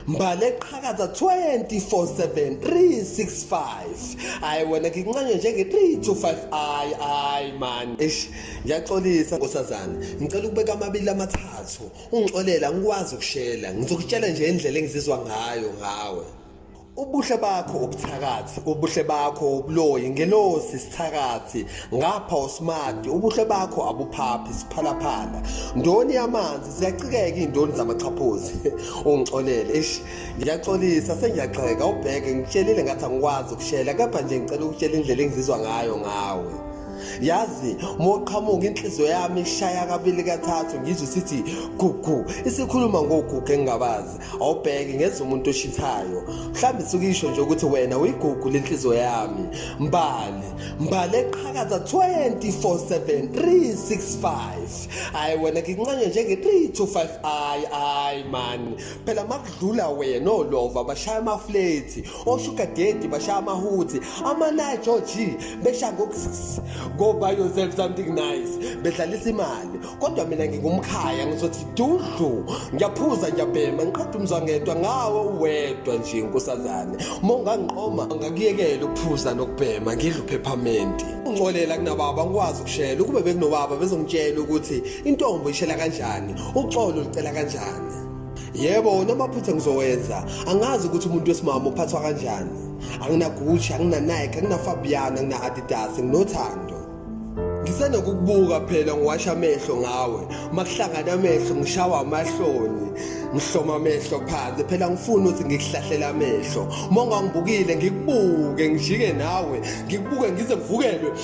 mbala eqhakaza 24/7 365 hayi wena ngincanywe njenge 3 to 5 ayi ayi man eish ngiyaxolisa nkosazana ngicela ukubeka amabili amathathu ungixolela ngikwazi ukushela ngizokutshela nje indlela engizizwa ngayo ngawe ubuhle bakho ubuthakathi ubuhle bakho ubuloyi ngelosi sithakathi ngapha usmati ubuhle bakho abuphaphi siphalaphala ndoni yamanzi ziyacikeka indoni zamaxhaphozi ungixolele eish ngiyaxolisa sengiyagxeka ubheke ngitshelile ngathi angikwazi ukushela kepha nje ngicela ukutshela indlela engizizwa ngayo ngawe yazi moqhamuka inhliziyo yami ishaya kabili kathathu ngizwe sithi gugu isikhuluma ngogugu engingabazi awubheki ngenza umuntu oshithayo mhlawumbe suke isho nje ukuthi wena uyigugu lenhliziyo yami mbali mbali eqhakaza 24/7 365 hayi wena ngincanye njenge 3 to 5 ayi ayi man phela makudlula wena olova bashaya amafleti oshuga dedi bashaya amahuthi amanaye george besha ngokusis ngoba yourself something nice bedlalisa imali kodwa mina ngingumkhaya ngizothi dudlu ngiyaphuza ngiyabhema ngiqeda umzwangedwa ngawe uwedwa nje nkosazane uma ungangiqoma ngakuyekela ukuphuza nokubhema ngidla uphephamenti uncolela kunababa ngikwazi ukushela ukube bekunobaba bezongitshela ukuthi intombo ishela kanjani uxolo licela kanjani yebo wona amaphutha ngizowenza angazi ukuthi umuntu wesimama uphathwa kanjani anginagucci anginanike anginafabiana angina-adidas nginothando ngisenokukubuka phela ngiwasha amehlo ngawe uma kuhlangana amehlo ngishawa amahloni ngihloma amehlo phansi phela ngifuna ukuthi ngikuhlahlela amehlo uma ungangibukile ngikubuke ngijike nawe ngikubuke ngize ngivukelwe